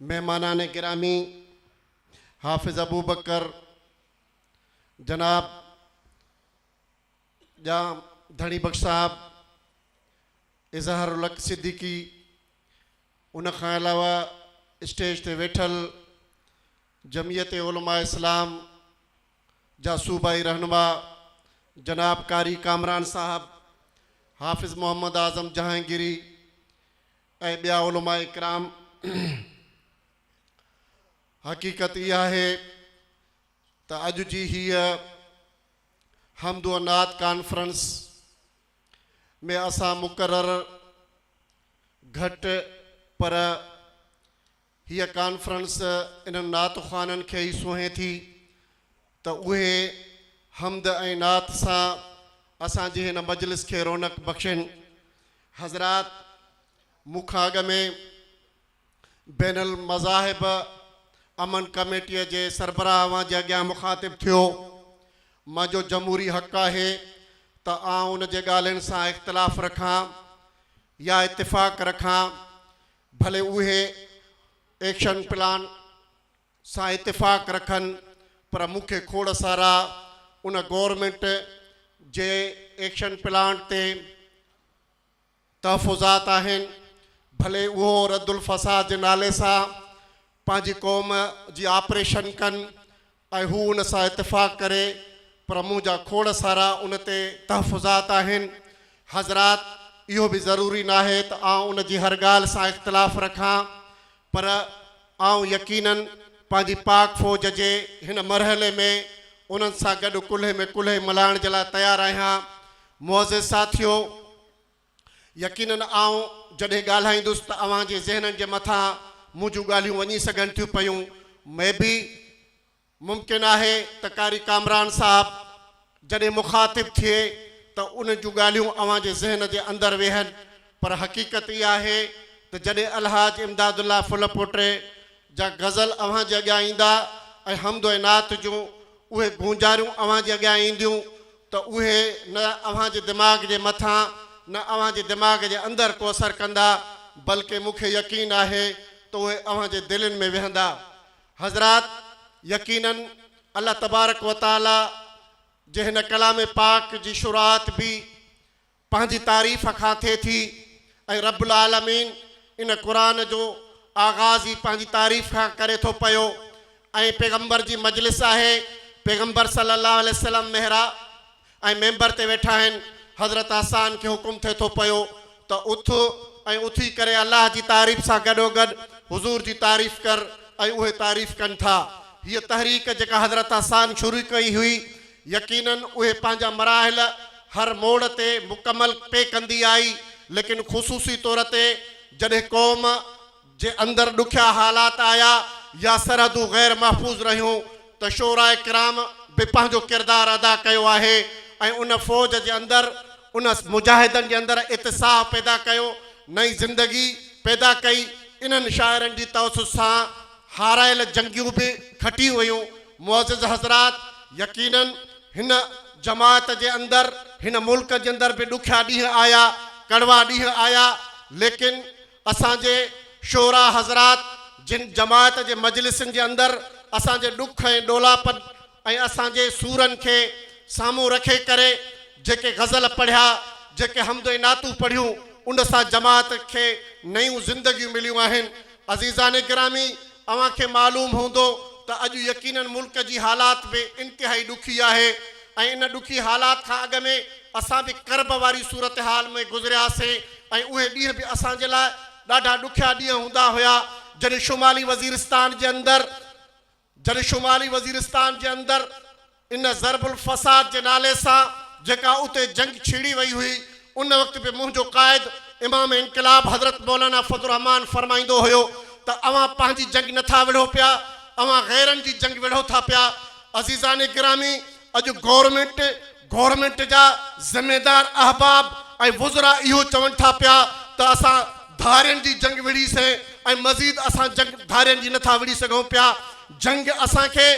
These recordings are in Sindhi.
مهمانان گرامي حافظ ابوبڪر جناب ڄام ڌڻي بخش صاحب اظهار الحق صديقي ان کان علاوه اسٽيج تي ويٺل جمعيت علماء اسلام جا صوبائي رهنما جناب قاري ڪامران صاحب حافظ محمد اعظم جهانگيري ۽ ٻيا علماء ڪرام حقيقت اها آهي ته اڄ جي هيء حمد و نعت ڪانفرنس ۾ اسان مقرر گهٽ پر هيء ڪانفرنس انهن نعت خوانن کي ئي سونهين ٿي ته اهي حمد ۽ نعت سان اسان جي هن مجلس کي رونق بخشين. حضرات مون کان اڳ ۾ بين المذاهب امن ڪميٽيء جي سربراهه اوهان جي اڳيان مخاطب ٿيو. منهنجو جمهوري حق آهي ته آئون ان جي ڳالهين سان اختلاف رکان يا اتفاق رکان، ڀلي اهي ايڪشن پلان سان اتفاق رکن پر مون کي کوڙ سارا ان گورنمينٽ جي ايڪشن پلانٽ تي تحفظات آهن ڀلي اهو ردالفساد جي نالي سان پنهنجي قوم جي آپريشن ڪن ۽ هو ان سان اتفاق ڪري پر مون جا کوڙ سارا ان تي تحفظات آهن حضرات اهو به ضروري ناهي ته آئون ان جي هر ڳالهه سان اختلاف رکان پر آئون يقيناً پنهنجي پاڪ فوج جي هن مرحلي ۾ انهن سان گڏ ڪلهي ۾ ڪلهي ملائڻ جي لاء تيار آهيان معزز ساٿيو يقينن آئون جڏهن ڳالهائيندس ته اوهان جي ذهنن جي مٿان مون جون ڳالهيون وڃي سگهن ٿيون پيون مي بي ممڪن آهي ته قاري ڪامران صاحب جڏهن مخاطب ٿئي ته انهن جون ڳالهيون اوهان جي ذهن جي اندر ويهن پر حقيقت اها آهي ته جڏهن الحاج امداد الله ڦل پوٽي جا غزل اوهان جي اڳيان ايندا ۽ حمد ۽ نعت جون اهي گونجاريون اوهان جي اڳيان اينديون ته اهي نه اوهان جي دماغ جي مٿان نه اوهان جي دماغ جي اندر ڪو اثر ڪندا بلڪه مون کي يقين آهي ته اهي اوهان جي دلين ۾ ويهندا حضرات يقيناً الله تبارڪ وتعاليٰ جي هن ڪلام پاڪ جي شروعات به پنهنجي تعريف کان ٿئي ٿي ۽ رب العالمين ان قرآن جو آغاز ئي پنهنجي تعريف کان ڪري ٿو پيو ۽ پيغمبر جي مجلس آهي پيغمبر صلي الله عليه وسلم محرا ۽ ميمبر تي ويٺا آهن حضرت حسان کي حڪم ٿئي ٿو پيو ته اٿ ۽ اٿي ڪري الله جي تعريف سان گڏوگڏ حضور جي تعريف ڪر ۽ اهي تعريف ڪن ٿا هيء تحريڪ جيڪا حضرت حسان شروع ڪئي هئي يقيناً اهي پنهنجا مراحل هر موڙ تي مڪمل پئي ڪندي آئي، ليڪن خصوصي طور تي جڏهن قوم جي اندر ڏکيا حالات آيا يا سرحدون غير محفوظ رهيون ته شعراء ڪرام به پنهنجو ڪردار ادا ڪيو آهي ۽ ان فوج جي اندر ان مجاهدن جي اندر اتساهه پيدا ڪيو نئين زندگي پيدا ڪئي انهن شاعرن جي توسط سان هارايل جنگيون به کٽيون ويون. معزز حضرات! يقيناً هن جماعت جي اندر، هن ملڪ جي اندر به ڏکيا ڏينهن آيا، ڪڙوا ڏينهن آيا، ليڪن اسان جي شعراء حضرات جن جماعت جي مجلسن جي اندر اسان جي ڏک ۽ ڏولاپن، ۽ اسان جي سورن کي سامهون رکي ڪري جيڪي غزل پڙهيا، جيڪي حمد ۽ نعتون پڙهيون، ان سان جماعت کي نيون زندگيون مليون آهن. عزيزان گرامي! اوهان کي معلوم هوندو ته اڄ يقيناً ملڪ جي حالات به انتهائي ڏکي آهي ۽ ان ڏکي حالات کان اڳ ۾ اسان به ڪرب واري صورتحال ۾ گذرياسين ۽ اهي ڏينهن به اسان جي لاء ڏاڍا ڏکيا ڏينهن هوندا هيا جڏهن شمالي وزيرستان جي اندر جڏهن شمالي وزيرستان جي اندر ان ضرب الفساد جي نالي سان جيڪا اتي جنگ ڇيڙي وئي هئي، ان وقت به منهنجو قائد امام انقلاب حضرت مولانا فضل الرحمان فرمائيندو هيو ته اوهان پنهنجي جنگ نه ٿا وڙهو پيا، اوهان غيرن جي جنگ وڙهو ٿا پيا. عزيزان گرامي! اڄ گورنمينٽ، گورنمينٽ جا ذميدار احباب ۽ وزراء اهو چون ٿا پيا ته اسان ڌارين جي جنگ وڙهي سين ۽ مزيد اسان جنگ ڌارين جي نٿا وڙهي سگهون پيا. جنگ اسان کي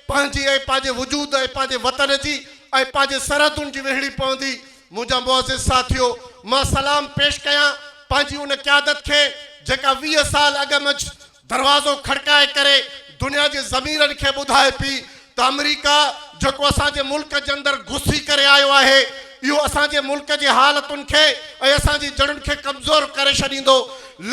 پنهنجي ۽ پنهنجي وجود ۽ پنهنجي وطن جي ۽ پنهنجي سرحدن جي وڙهڻي پوندي. منهنجا معزز ساٿيو! مان سلام پيش ڪيان پنهنجي ان قيادت کي جيڪا ويهه سال اڳ منجهه دروازو کڙڪائي ڪري دنيا جي ضميرن کي ٻڌائي پي ته آمريڪا جيڪو اسان جي ملڪ جي اندر گھسي ڪري آيو آهي اهو اسان جي ملڪ جي حالتن کي ۽ اسان جي جڙن کي ڪمزور ڪري ڇڏيندو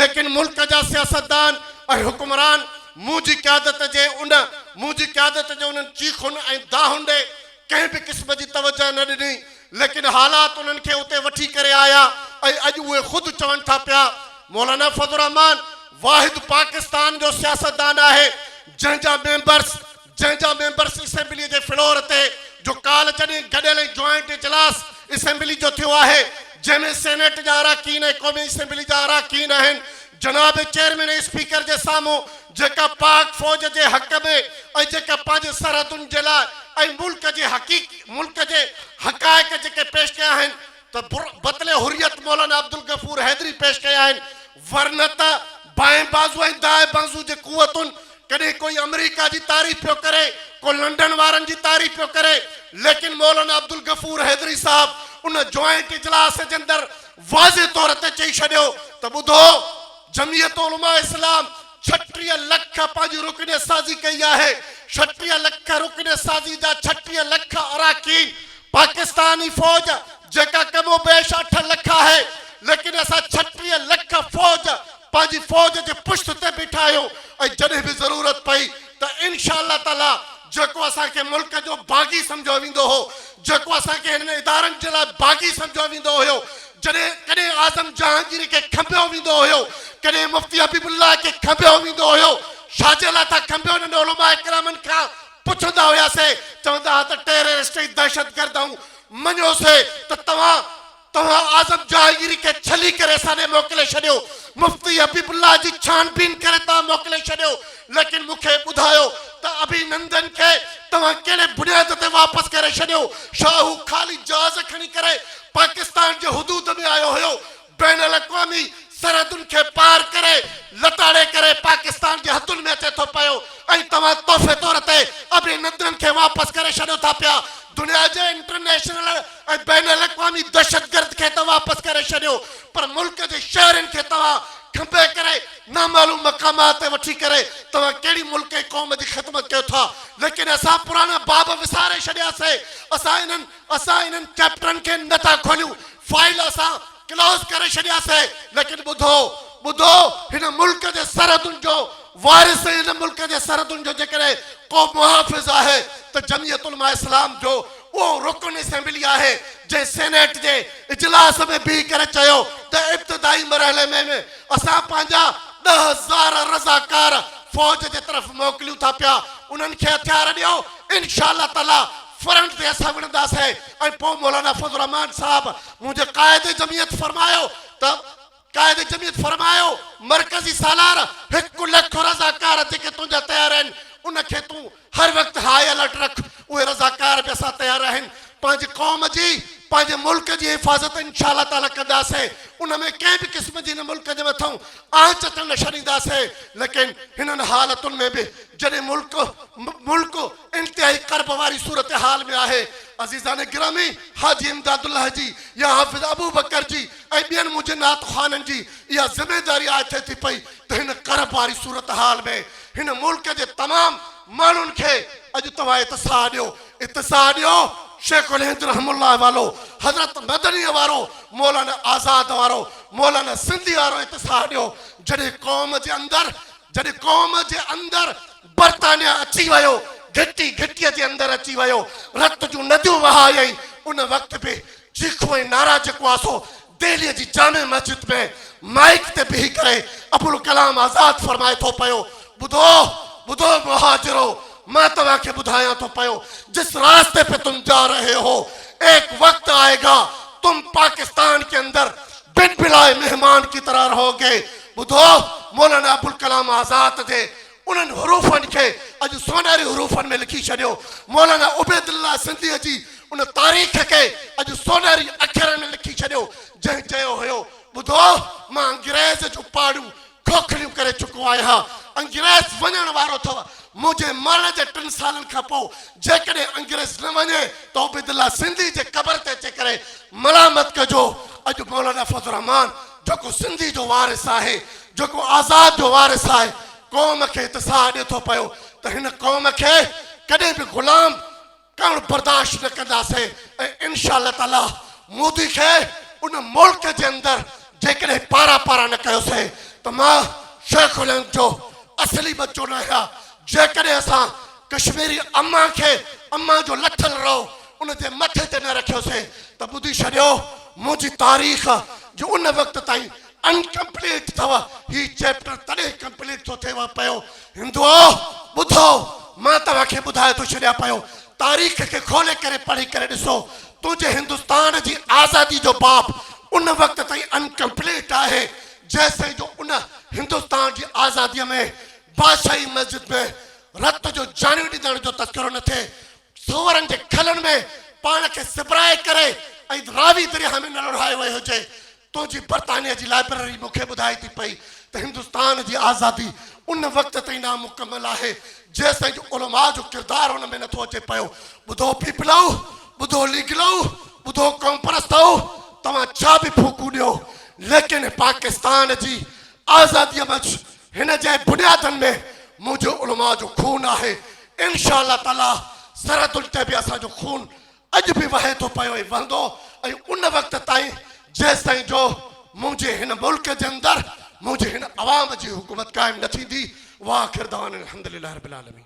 ليڪن ملڪ جا سياستدان ۽ حڪمران منهنجي قيادت جي ان منهنجي قيادت جي انهن چيخن ۽ دانهن ڏي ڪنهن به قسم جي توجه نه ڏني ليڪن حالات انهن کي اتي وٺي ڪري آيا ۽ اڄ اهي خود چون ٿا پيا. مولانا فضل الرحمان واحد پاڪستان جو سياستدان آهي جنهن جا ميمبرس جنهن جا ميمبرس اسيمبليء جي فلور تي جو ڪالهه جڏهن گڏيل ۽ جوائنٽ اجلاس اسيمبلي جو ٿيو آهي جنهن ۾ سينيٽ جا اراڪين ۽ قومي اسيمبلي جا اراڪين آهن جناب چيئرمين ۽ اسپيڪر جي سامهون جيڪا پاڪ فوج جي حق ۾ ۽ جيڪا پنهنجي سرحدن جي لاء ۽ ملڪ جي حقيق ملڪ جي حقائق جيڪي پيش ڪيا آهن ته بر بطلي حريت مولانا عبدالغفور حيدري پيش ڪيا آهن ورنه ته بائين بازو ۽ دائين بازو جي قوتن ڪڏهن ڪوئي امريڪا جي تعريف پيو ڪري ڪو لنڊن وارن جي تعريف پيو ڪري ليڪن مولانا عبدالغفور حيدري صاحب ان جوائنٽ اجلاس جي اندر واضح طور تي چئي ڇڏيو ته ٻڌو جمعيت علماء اسلام ڇٽيهه لک پنهنجي رڪن سازي ڪئي آهي، ڇٽيهه لک رڪن سازي جا ڇٽيهه لک اراڪين پاڪستاني فوج جيڪا ڪم و بيش اٺ لک آهي ليڪن اسان ڇٽيهه لک فوج پنهنجي فوج جي پشت تي بيٺا آهيون ۽ جڏهن به ضرورت پئي ته انشاء الله تعالي جيڪو اسان کي ملڪ جو باغي سمجهيو ويندو هو، جيڪو اسان کي هنن ادارن جي لاء باغي سمجهيو ويندو هيو، جڏهن ڪڏهن اعظم جهانگير کي کنڀيو ويندو هيو، ڪڏهن مفتي حبيب الله کي کنڀيو ويندو هيو، ڇاجي لاء ٿا کنڀيو انهن علماء ڪرامن کان پڇندا هياسين، چوندا ها ته ٽيررسٽ ۽ دهشتگرد آئون مڃيو سي ته توهان توهان اعظم جهانگيري کي ڇلي ڪري ساڏي موڪلي ڇڏيو، مفتي حبيب الله جي ڇانبين ڪري توهان موڪلي ڇڏيو، ليڪن مون کي ٻڌايو ته اڀي نندن کي توهان ڪهڙي بنياد تي واپس ڪري ڇڏيو؟ ڇا هو خالي جهاز کڻي ڪري پاڪستان جي حدود ۾ آيو هيو؟ بين الاقوامي سرحدن کي پار ڪري لتاڙي ڪري پاڪستان جي حدن ۾ اچي ٿو پيو ۽ توهان تحفي طور تي اڀي نندن کي واپس ڪري ڇڏيو ٿا پيا، دنيا جي انٽرنيشنل ۽ بين الاقوامي دهشتگرد کي ته واپس ڪري ڇڏيو پر ملڪ جي شهرين کي توهان کنڀي ڪري نامعلوم مقامات تي وٺي ڪري توهان ڪهڙي ملڪ ۽ قوم جي خدمت ڪيو ٿا ليڪن اسان پراڻا باب وساري ڇڏيا سي اسان انهن اسان انهن چيپٽرن کي نه ٿا کوليون فائيل اسان ڪلوز ڪري ڇڏيا سي ليڪن ٻڌو ٻڌو هن ملڪ جي سرحدن جو وارث ۽ هن ملڪ جي سرحدن جو جيڪڏهن ڪو محافظ آهي ته جمعيت علماء اسلام جو اهو رڪن اسيمبلي آهي جنهن سينيٽ جي اجلاس ۾ بيهي ڪري چيو ته ابتدائي مرحلي ۾ به اسان پنهنجا ڏهه هزار رضاڪار فوج جي طرف موڪليون ٿا پيا انهن کي هٿيار ڏيو انشاء الله تعالي فرنٽ تي اسان وڙهنداسين ۽ پوء مولانا فضل الرحمان صاحب منهنجي قائد جمعيت فرمايو ته قائد جميعت فرمايو، مرڪزي سالار هڪ لک رضاڪار جيڪي تنهنجا تيار آهن، ان کي تون هر وقت هاء الرٽ رک، اهي رضاڪار به اسان تيار آهن، پنهنجي قوم جي، پنهنجي ملڪ جي حفاظت انشاء الله تعاليٰ ڪنداسين، ان ۾ ڪنهن به قسم جي هن ملڪ جي مٿئون آنچ اچڻ نه ڇڏينداسين، ليڪن هنن حالتن ۾ به جڏهن ملڪ ملڪ انتهائي ڪرب واري صورتحال ۾ آهي، عزيزان گرامي حاجي امداد الله جي يا حافظ ابوبڪر جي ۽ ٻين منهنجي نعت خوانن جي اها ذميداري آء ٿئي ٿي پئي ته هن ڪرب واري صورتحال ۾ هن ملڪ جي تمام ماڻهن کي اڄ توهان اتساع ڏيو اتساع ڏيو شيخ الهند رحم الله والو حضرت مدنيء وارو مولانا آزاد وارو مولانا سنڌيء وارو اتساع ڏيو جڏهن قوم جي اندر جڏهن قوم جي اندر برطانيا اچي ويو گهٽي گهٽيء جي اندر اچي ويو رت جون نديون وهايائين ان وقت به چيخون ۽ نعرا جيڪو آهي سو دهليء جي جامع مسجد ۾ مائيڪ تي بيهي ڪري ابوالڪلام آزاد فرمائي ٿو پيو، ٻڌو! ٻڌو مهاجرو! مان توهان کي ٻڌايان ٿو پيو، جس راستے پي تم جا رهي هو، ايڪ وقت آئي گا، تم پاڪستان ڪي اندر بن بلائي مهمان ڪي طرح رهو گي، ٻڌو! مولانا ابوالڪلام آزاد جي انهن حروفن کي اڄ سونهري حروفن ۾ لکي ڇڏيو. مولانا عبيدالله سنڌيء جي ان تاريخ کي اڄ سونهري اکرن ۾ لکي ڇڏيو، جنهن چيو هيو، ٻڌو! مان انگريز جون پاڙون کوکليون ڪري چڪو آهيان. انگريز وڃڻ وارو اٿو. منهنجي مرڻ جي ٽن سالن کان پوء جيڪڏهن انگريز نه وڃي ته عبيدالله سنڌيء جي قبر تي اچي ڪري ملامت ڪجو. اڄ مولانا فضل الرحمان جيڪو سنڌي جو وارث آهي، جيڪو آزاد جو وارث آهي، قوم کي اتساهه ڏئي ٿو پيو ته هن قوم کي ڪڏهن به غلام ڪرڻ برداشت نه ڪنداسين ۽ انشاء الله تعاليٰ مودي کي ان ملڪ جي اندر جيڪڏهن پارا پارا نه ڪيوسين ته مان شيخ الهند جو اصلي ٻچو ناهيان جيڪڏهن اسان ڪشميري امان کي امان جو لٺل رئو ان جي مٿي تي نه رکيوسين ته ٻڌي ڇڏيو منهنجي تاريخ جو ان وقت تائين انڪمپليٽ اٿو هي چيپٽر تڏهن ڪمپليٽ ٿو ٿئي وا پيو هندوؤ ٻڌو مان توهان کي ٻڌائي ٿو ڇڏيان پيو تاريخ کي کولي ڪري پڙهي ڪري ڏسو تنهنجي هندستان جي آزادي جو باب ان وقت تائين انڪمپليٽ آهي جيسين جو ان هندستان جي آزادي ۾ بادشاهي مسجد ۾ رت جو جاني ڏنڻ جو تذڪرو نه ٿئي سوئرن جي کلن ۾ پاڻ کي سپرائي ڪري ۽ راوي درياهه ۾ نه لڙهايو ويو هجي. تنهنجي برطانيه جي لائبرري مون کي ٻڌائي ٿي پئي ته هندستان جي آزادي ان وقت تائين نامڪمل آهي، جيستائين جو علماء جو ڪردار ان ۾ نٿو اچي پيو. ٻڌو پيپلائو، ٻڌو ليگلائو، ٻڌو قوم پرستائو، توهان ڇا به ڦوڪون ڏيو، ليڪن پاڪستان جي آزاديء منجهه هن جي بنيادن ۾ منهنجي علماء جو خون آهي، انشاء الله تعاليٰ سرحدن تي به اسان جو خون اڄ به وهي ٿو پيو ۽ وهندو ۽ ان وقت تائين جيستائين جو منهنجي هن ملڪ جي اندر منهنجي هن عوام جي حڪومت قائم نه ٿيندي واخر دعوانا الحمدلله رب العالمين.